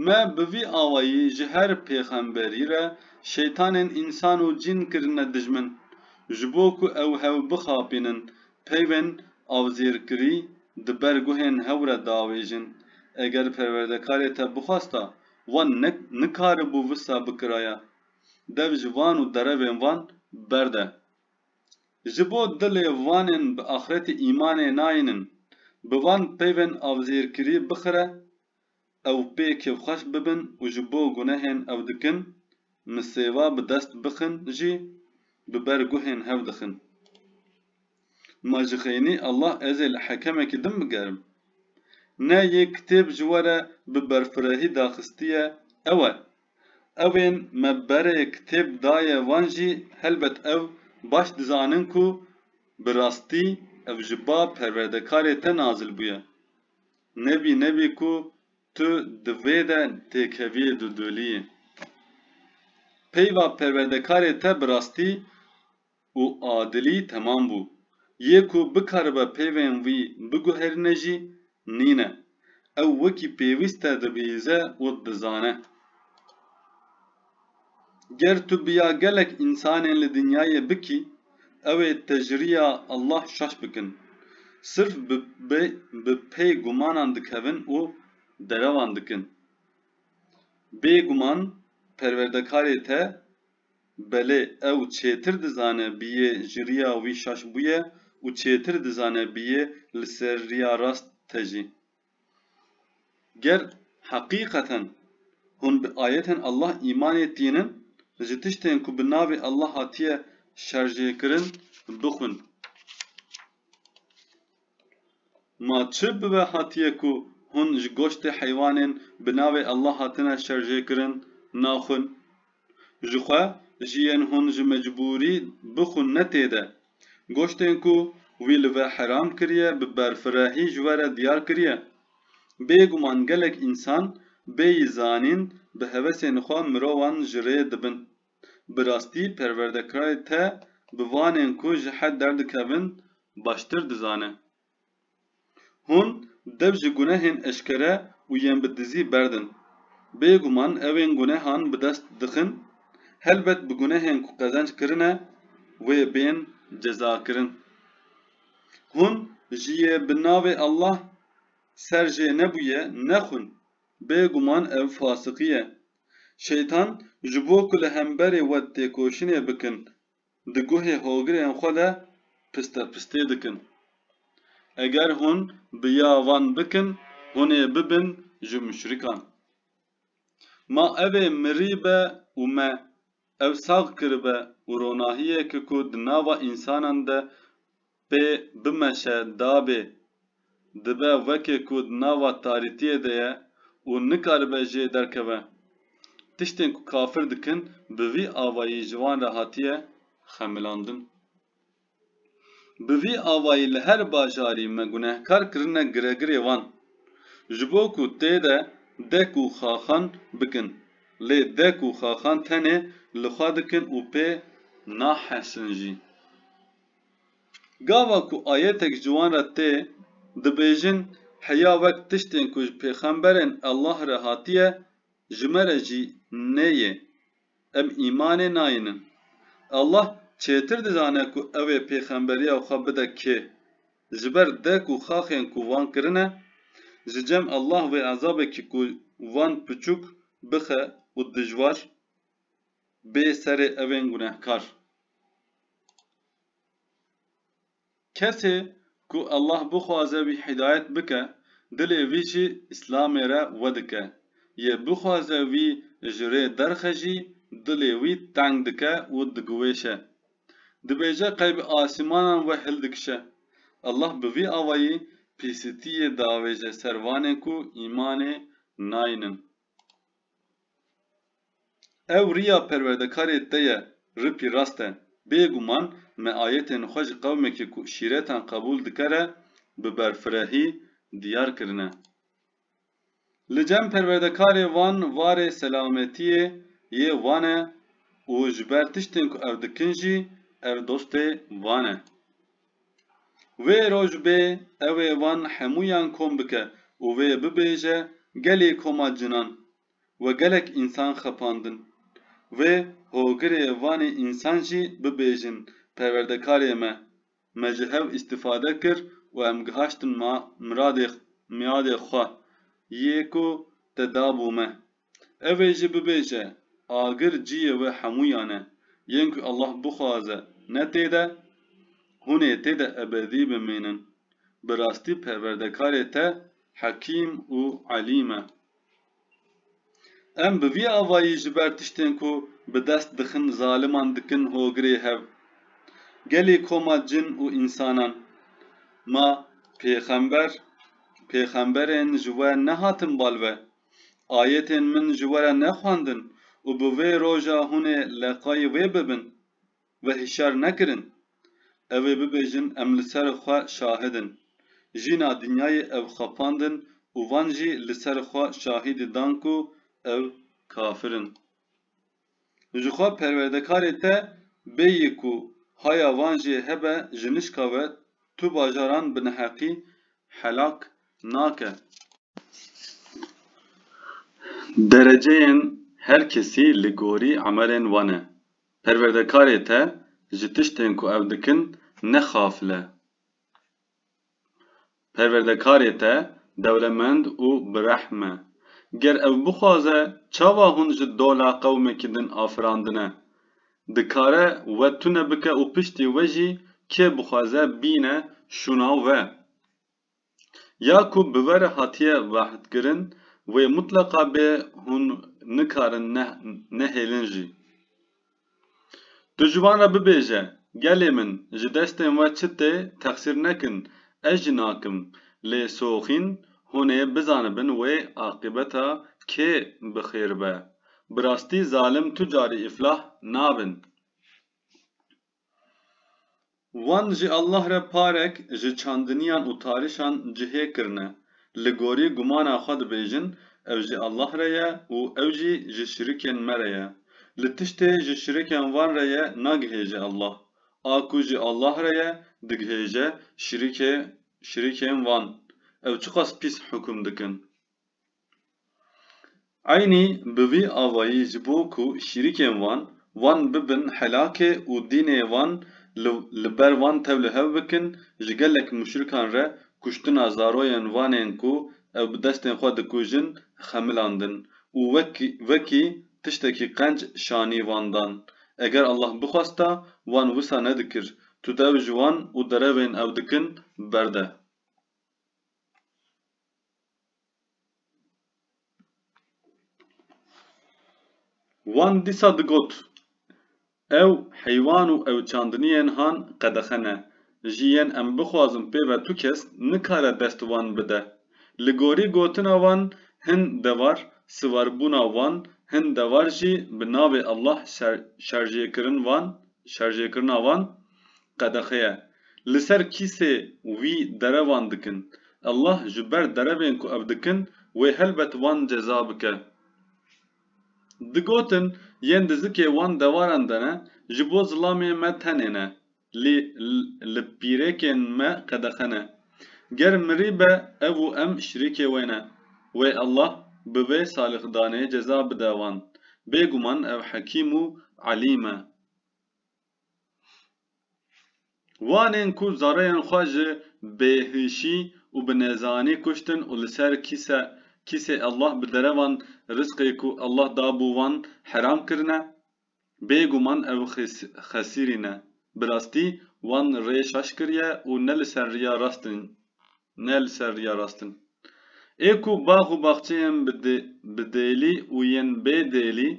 Me bi vî awayî ji her pêxemberî re şeytanên însan û cîn kirine dijmin, ji bo ku ew hew bixapînin, peyvên avzêrkirî di ber guhên hew re diavêjin. Eger Perwerdekarê te bixwesta, wan nikaribû wisa bikiraya. Dev ji van û derevên van berde. Ji bo dilê vanên bi axretê îmanê nayînin, bi van peyvên avzêrkirî bixire ew pê kêfxweş bibin û ji bo gunehên ew dikin misêva bi dest bixin jî bi ber guhên hev dixin. Ma ji xeynî Allah ez ê li hekemekî din bigerim. Ne yê kitêb ji we re bi berfirehî daxistiye ew e. Ewên me berê kitêb daye wan jî helbet ew baş dizanin ku bi rastî ev ji ba Perwerdekarê te nazil bûye. Nebî nebî ku tu di vê de têkeviyê dûdûliyê. Peyva perwerdekarê te bi rastî û adilî temam bû. Yê ku bikaribe peyvên wî biguherîne jî nîne. Ew wekî pêwîst te dibihîze û dizane. Ger tu biya gelek însanên li dinyayê bikî, ew ê tejriya Allah şaş bikin. Sirf bi pê gumanan dikevin û derewan dikin. Bê guman Perwerdekarê te belê ew çêtir dizane biyê ji riya wî şaş bûye û çêtir dizane biyê li ser riya rast te jî. Ger heqîqeten hûn bi ayetên Allah îmanê tînin, ji tiştên ku bi navê Allah hatiye şerjêkirin bixwin. Ma çi bibe hatiye ku hûn ji goştê heywanên bi navê Allah hatine şerjêkirin naxwin? Ji xwe jî yên hûn ji mecbûrî bixwin ne tê de. Goştên ku wî li ve heram kiriye bi berfirehî ji we re diyar kiriye. Bêguman gelek însan bêyî zanîn bi hevesên xwe mirovan ji rê dibin. Bi rastî perwerdekirayê te bi vanên ku ji hed derdikevin baştir dizane. Hûn dev ji gunehên eşkere û yên bi dizî berdin. Bêguman ewên gunehan bi dest dixin, helbet bi gunehên ku qezenc kirine wê bên cezakirin. Hûn ji yê bi navê Allah ser jê nebûye nexwin, bêguman ev fasiqî ye. Şeytan ji bo ku li hemberê we têkoşinê bikin Di guhê hogirên xwe de pistepistê dikin. Eger hûn bi ya van bikin, hûn ê bibin ji muşrikan. Ma ev ê mirîbe û me ew sax kiribe û ronahiyeke ku di nava însanan de Pê bimeşe dabê, dibe wekê ku di nava tarîtiyê de ye û nikaribe jê derkeve. Tiştên ku kafir dikin bi vî avayî ji wan re hatiye xemilandin. Bi vî avayî li her bajarî me gunehkar kirine giregirê wan. Ji bo ku tê de dek û xaxan bikin. Lê dek û xaxan tenê li xwe dikin û pê nahesin jî. Gava ku ayetek ji wan re tê, dibêjin, Heya wek tiştên ku ji pêxemberên Allah re hatiye, ji me re jî nê yê. Em îmanê nayînin. Allah çêtir dizane ku ew ê pêxemberiya xwe bide kê. Ji ber dek û xaxên ku wan kirine, ji cem Allah wê ezabekî ku wan piçûk bixe û dijwar, Bê serê evên gunehkar. Kesê ku Allah bixwaze wî hîdayet bike, dilê wî jî Îslamê re wedike. Yê bixwaze wî ji rê derxe jî dilê wî teng dike û digiwêşe. Dibêje qey bi asîmanan we hildikişe. Allah bi vî awayî pîsitiyê diavêje ser wanê ku îmanê nayînin. Ew riya perwerdekarê te ye ripî rast e. Bêguman me ayetên xwe ji qewmekê ku şîretan qebûl dike re bi berfirehî diyar kirine. Li cem perwerdekarê wan varê selametiyê yê wan e û ji ber tiştên ku ew dikin jî ev dostê wan e. Wê roj bê ew ê wan hemûyan kom bike û wê bibêje gelê koma cinan we gelek însan xepandin. Wê hogirê vanê însan jî bibêjin perwerdekarê me, me ji hev îstîfade kir û em gihaştin miadê xwe yê ku te dabû me. Ev ê jî bibêje, agir ciyê wê hemûyan e, yên ku Allah bixwaze ne tê de, hûn ê tê de ebedî bimînin. Bi rastî Perwerdekarê te Hekîm û Elîm e. Em bi vî avayî ji ber tiştên ku bi dest dixin zaliman dikin hogirê hev. Gelê koma cin û însanan. Ma pêxember, pêxemberên ji we nehatin bal ve. Ayetên min ji we re nexwendin û bi vê roja hûn ê leqayî wê bibin, we hişyar nekirin. Ew ê bibêjin em li ser xwe şahid in. Jîna dinyayê ew xapandin û van jî li ser xwe şahîdî dan ku ew kafir in. û ji xwe perwerdekarê te bêyî ku haya van jê hebe ji nişka we tu bajaran bi neheqî helak nake. Dereceyên her kesî li gorî emelên wan e. Perwerdekarê te ji tiştên ku ew dikin ne xafil e. Perwerdekarê te dewlemend û bi rehm e. Ger ew bixwaze çawa hûn ji dola qewmekî din afirandine? Dikare we tune bike û piştî we jî kê bixwaze bîne şûna we. Ya ku bi we re hatiye vehdkirin wê mutleqa bê hûn nikarin nehêlin jî. Tu ji wan re bibêje, Gelê min, ji destên we çi tê texsîr nekin, ez jî nakim. Lê soxîn hûn ê bizanibin wê aqîbeta kê bi xêr be. Bi rastî zalim tu carî îflah nabin. Wan ji Allah re parek ji çandiniyan û tarişan cihê kirine, li gorî gumana xwe dibêjin ev ji Allah re ye û ew jî ji şirikên me re ye. Li tiştê ji şirikên wan re ye nagihêje Allah. A ku ji Allah re ye digihêje şirikê şirikên wan. Ew çiqas pîs hukum dikin. Eynî bi vî avayî ji bo ku şîrîkên wan, wan bibin helakê û dînê wan li ber wan tew li hev bikin, ji gelek muşrikan re kuştina zaroyên wanên ku ew bi destên xwe dikujin xemilandin û wekî tiştekî qenc şanî wan dan. Eger Allah bixwesta wan wisa nedikir. Tu dew ji wan û derevên ew dikin berde. Wan dîsa digot, Ew heywan û ew çandiniyên han qedexe ne. Ji yên em bixwazin pê ve tu kes nikare dest wan bide. Li gorî gotina wan hin devar siwarbûna wan hin devar jî bi navê Allah şerjêkirin wan şerjêkirina wan qedexe ye. Li ser kîsê wî derevan dikin. Allah ji ber derevên ku ev dikin wê helbet wan ceza bike. Digotin yên dizikê wan dewaran de ne, ji bo zilamê me tenê ne, lê li pîrêkên me qedexe ne. Ger mirî be ev û em şirîkê wê ne. Wê Allah bi vê salixdanê ceza bide wan. Bêguman ev Hekîm û Elîm e. Wan ên ku zareyên xwe ji bêhişî û bi nezanî kuştin û li ser kîse kîsê Allah bi derevan rizqê ku Allah dabû wan heram kirine, bêguman ew xesîrî ne. Bi rastî wan rê şaş kiriye û ne li ser riya rast in. Ne li ser riya rast in. Ê ku bax û baxçeyên bi dêlî û yên bê dêlî,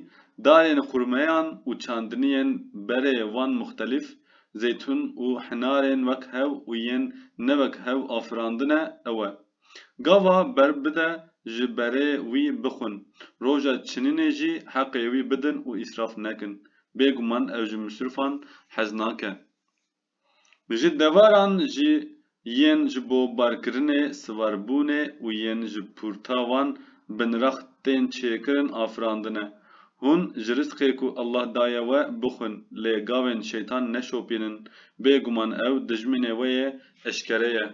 dayên xurmeyan û çandiniyên berê van muxtelîf, zeytûn û hinarên wek hev û yên ne wek hev afirandine, ew e. Gava ber bide ji berê wî bixwin, roja çinînê jî heqê wî bidin û îsraf nekin. Bêguman ev ji misrûfan hez nake. Ji deveran jî yên ji bo barkirinê, siwarbûnê û yên ji pûrta wan binrax tên çêkirin afirandine. Hûn ji rizqê ku Allah daye we bixwin, lê gavên şeytan neşopînin. Bêguman ew dijminê we yê eşkere ye.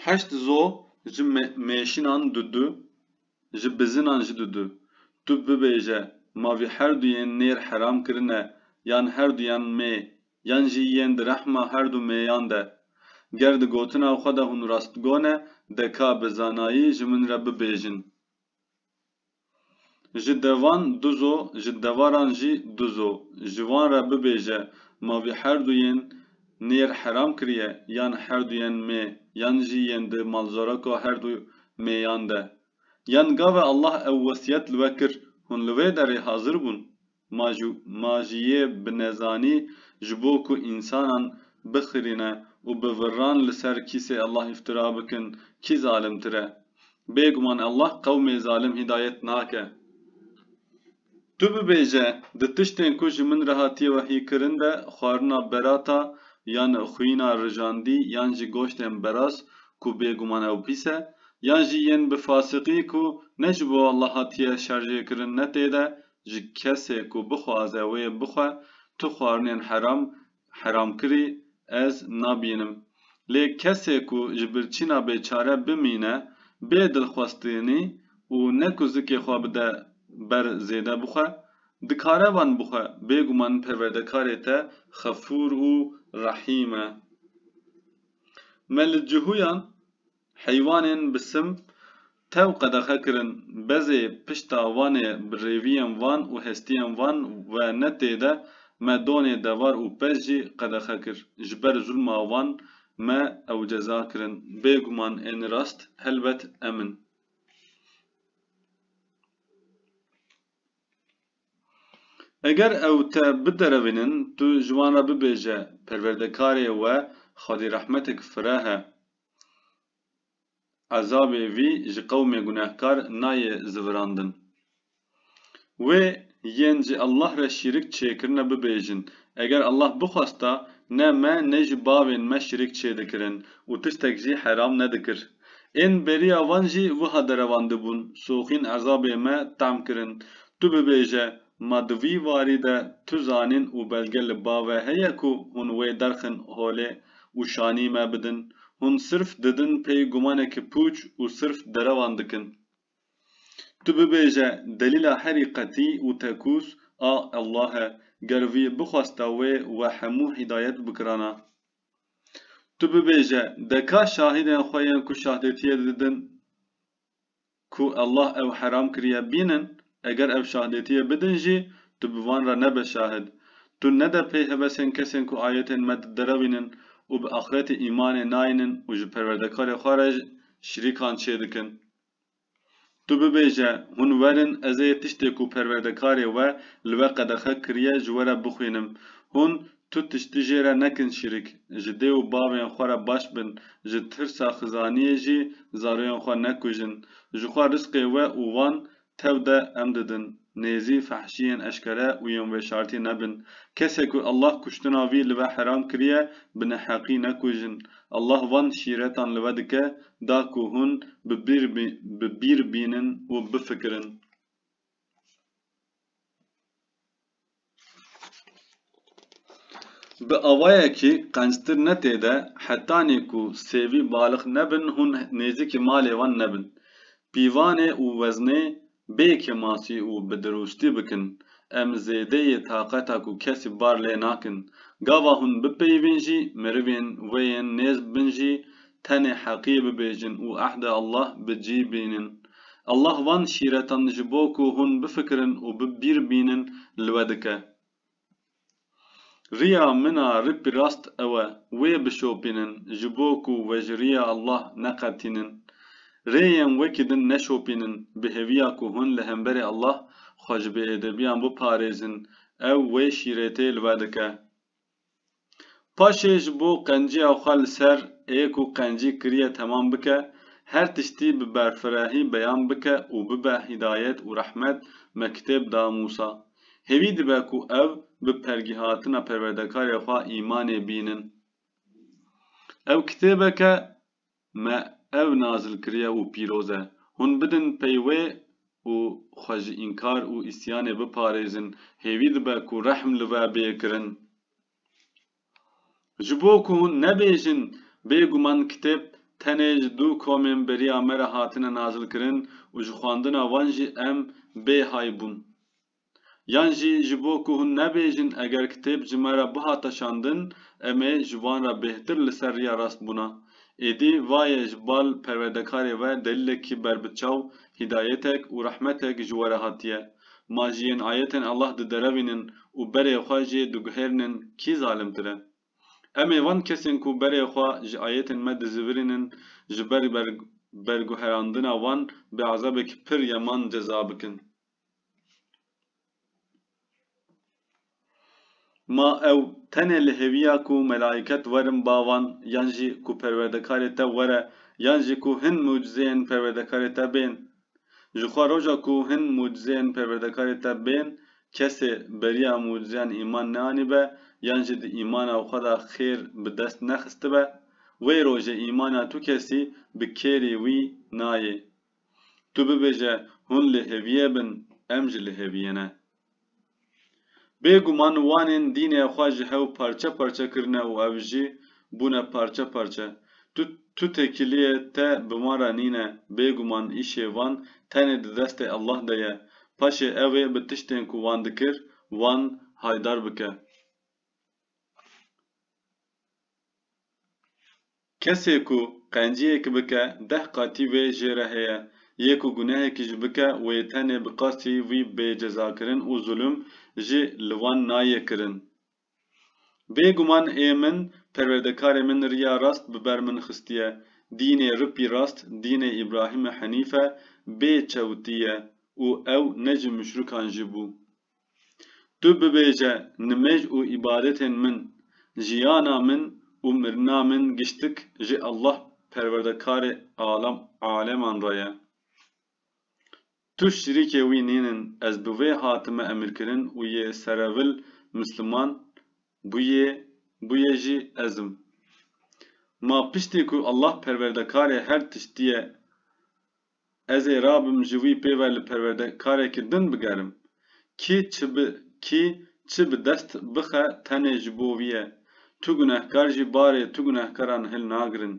Heşt zo ji mêşinan du du, ji bizinan ji du du. Tu bibêje ma vî herdu yên nêr heram kirine yan herdu yan mê yan jî yên di rehma herdu mêyan de. Ger di gotina xwe de hûn rastgo ne de ka bi zanayî ji min re bibêjin. Ji devan duz o, ji devaran jî duz o. Ji wan re bibêje, Ma vî herduyên nêr heram kiriye, yan herduyên mê, yan jî yên di malzoraka herdu mêyan de. Yan gave Allah ew wesiyet li we kir, hûn li wê derê hazir bûn? Ma jû ma jî yê bi nezanî ji bo ku însanan bixirîne û bi virran li ser kîsê Allah îftira bikin kî zalimtir e? Bêguman Allah qewmê zalim hîdayet nake. Tu bibêje, di tiştên ku ji min re hatiye wehyîkirin de xwarina berata yan xwîna rijandî yan jî goştên beraz ku bêguman ew pîs e, yan jî yên bi fasiqî ku ne ji bo Allah hatiye şerjêkirin ne tê de Ji kesê ku bixwaze wê bixwe tu xwarinên heram heram kirî ez nabînim. Lê kesê ku ji birçîna bêçare bimîne bê dilxwestinî û ne ku zikê xwe bide ber zêde bixwe, dikare wan bixwe. Bêguman Perwerdekarê te xefûr û rehîm e. Me li cihûyan Heywanên bi sim tev qedexe kirin, bezê pişta Wanê bi rêviyên Van û hestiyên Van ve ne tê de, me Donê Devar û Pez jî qedexe kir. Ji ber zulma wan me ew ceza kirin. Bêguman ên rast helbet em in. Eger ew te biderevînin, tu ji wan re bibêje, perwerdekarê we xwedîrehmetek fireh e. Ezabê vî ji qewmê gunehkar nayê zivirandin. Wê yên ji Allah re şîrik çêkirine bibêjin, Eger Allah bixwesta ne me ne jî bavên me şîrik çêdikirin û tiştek jî heram nedikir. Ên beriya van jî wiha derevandibûn, Soxîn ezabê me tam kirin. Tu bibêje, Ma di vî warî de tu zanîn û belge li ba ve heye ku hûn wê derxin holê û şanî me bidin. Hûn sirf didin pey gumanekî pûç û sirf derewan dikin. Tu bibêje delîla herî qetî û tekûs a Allah e. Ger vî bixwesta wê we hemû hîdayet bikirana. Tu bibêje deka şahîdên xwe yên ku şahdêtiyê didin ku Allah ew heram kiriye bînin, eger ev şahdêtiyê bidin jî, tu bi van re nebe şahid. Tu nede pey hevesên kesên ku ayetên me diderewînin û bi axretê îmanê nayînin û ji Perwerdekarê xwe re şirîkan çêdikin. Tu bibêje, Hûn werin ez ê tiştê ku Perwerdekarê we li we qedexe kiriye ji we re bixwînim. Hûn Tu tiştî jê re nekin şirik. Ji dê û bavên xwe re baş bin, ji tirsa xizaniyê jî zaroyên xwe nekujin. Ji xwe risqê we û wan tew de em didin. Nêzî, fehşiyên eşkere û yên veşartî nebin. Kesê ku Allah kuştina wî li we heram kiriye, bi neheqî nekujin. Allah van şîretan li we dike, da ku hûn bi bîr bînin û bifikirin. Bi awayekî qenctir ne tê de hetanî ku sêvî balix nebin hûn nêzîkî malê wan nebin. Pîvanê û weznê bê kemasî û bi dirûştî bikin. Em zêdeyê taqeta ku kesî bar lê nakin. Gava hûn bipeyivîn jî, mirivên wê yên nêz bin jî tenê heqî bibêjin û ehdê Allah bi cî bînin. Allah van şîretan ji bo ku hûn bifikirin û bi bîr bînin li we dike. Riya min a ripî rast ew e, wê bişopînin ji bo ku we ji riya Allah neqetînin. Rêyên wekî din neşopînin bi hêviya ku hûn li hemberî Allah xwe ji bêêdebiyan biparêzin, ew wê şîretê li we dike. Paşê ji bo qencîya xwe li ser ê ku qencî kiriye temam bike, her tiştî bi berfirehî beyan bike û bibe hîdayet û rehmet, me kitêb da Mûsa. Hêvî dibe ku ev bi pergîhatina Perwerdekarê xwe îmanê bînin. Ew kitêbeke Me ew nazil kiriye û pîroz e. Hûn bidin pey wê û xwe ji înkar û îsyanê biparêzin, hêvî dibe ku rehm li we bê kirin. Ji bo ku hûn nebêjin, Bêguman kitêb tenê ji du komên beriya me re hatine nazilkirin û ji xwendina wan jî em bêhay bûn. Yan jî ji bo ku hûn nebêjin eger kitêb ji me re bihata şandin em ê ji wan re bêhtir li ser riya rast bûna êdî va ye ji bal perwerdekarê ve delîlekî berbiçaw, hîdayetek û rehmetek ji we re hatiye. Ma ji yên ayetên Allah diderevînin û berê xwe jê diguhêrinin kî zalimtir e? Em ê van kesên ku berê xwe ji ayetên me dizivirînin ji ber berguherandina wan bi ezabekî pir yeman ceza bikin. Ma ew tenê li hêviya ku melaîket werin ba wan yan jî ku perwerdekarê te were yan jî ku hin mucizeyên perwerdekarê te bên. Ji xwe roja ku hin mucizeyên perwerdekarê te bên kesê beriya mucizeyan îman neanîbe yan jî di îmana xwe de xêr bi dest nexistibe, wê rojê îmana tu kesî bi kêrî wî nayê. Tu bibêje hûn li hêviyê bin em jî li hêviyê ne. Bêguman wanên dînê xwe ji hew parçe parçe kirine û ev jî bûne parçe parçe. Tu tu têkiliyê te bi wan re nîne, bêguman îşê van tenê di destê Allah de ye. Paşê ew ê bi tiştên ku wan dikir wan haydar bike. Kesê ku qenciyek bike deh qatî wê jê re heye, yê ku gunehekî jî bike wê tenê bi qasî wî bê cezakirin û zulm jî li wan nayê kirin. Bê guman ê min perwerdekarê min riya rast bi ber min xistiye, dînê ripî rast dînê Îbrahîmê Henîfe bê çewtî ye û ew ne ji muşrikan jî bû. Tu bibêje nimêj û îbadetên min, jiyana min û mirina min giştik ji Allah Perwerdekarê alam aleman re ye. Tu şirîkê wî nînin, ez bi wê hatime emirkirin û yê serevil misliman bûyê bûyê jî ez im. Ma piştî ku Allah Perwerdekarê her tiştiyê Ez ê rabim ji wî pê ve li perwerdekarekî din bigerim. Kî çi bi kî çi bi dest bixe tenê ji bo wî ye. Tu gunehkar jî barê tu gunehkaran hil nagirin.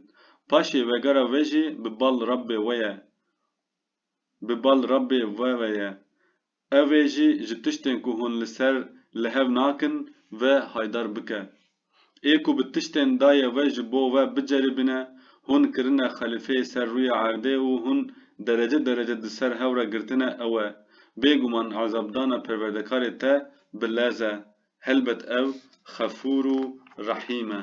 Paşê vegera wê jî bi bal Rabbê we ye. Bi bal Rabbê we ve ye. Ev ê jî ji tiştên ku hûn li ser li hev nakin ve haydar bike. Ê ku bi tiştên daye ve ji bo we biceribîne, hûn kirine xelîfeyê ser rûyê erdê û hûn derece derece di ser hev re girtine ew e. Bêguman ezabdana Perwerdekarê te bi lez e. Helbet ew Xefûr û Rehîm e.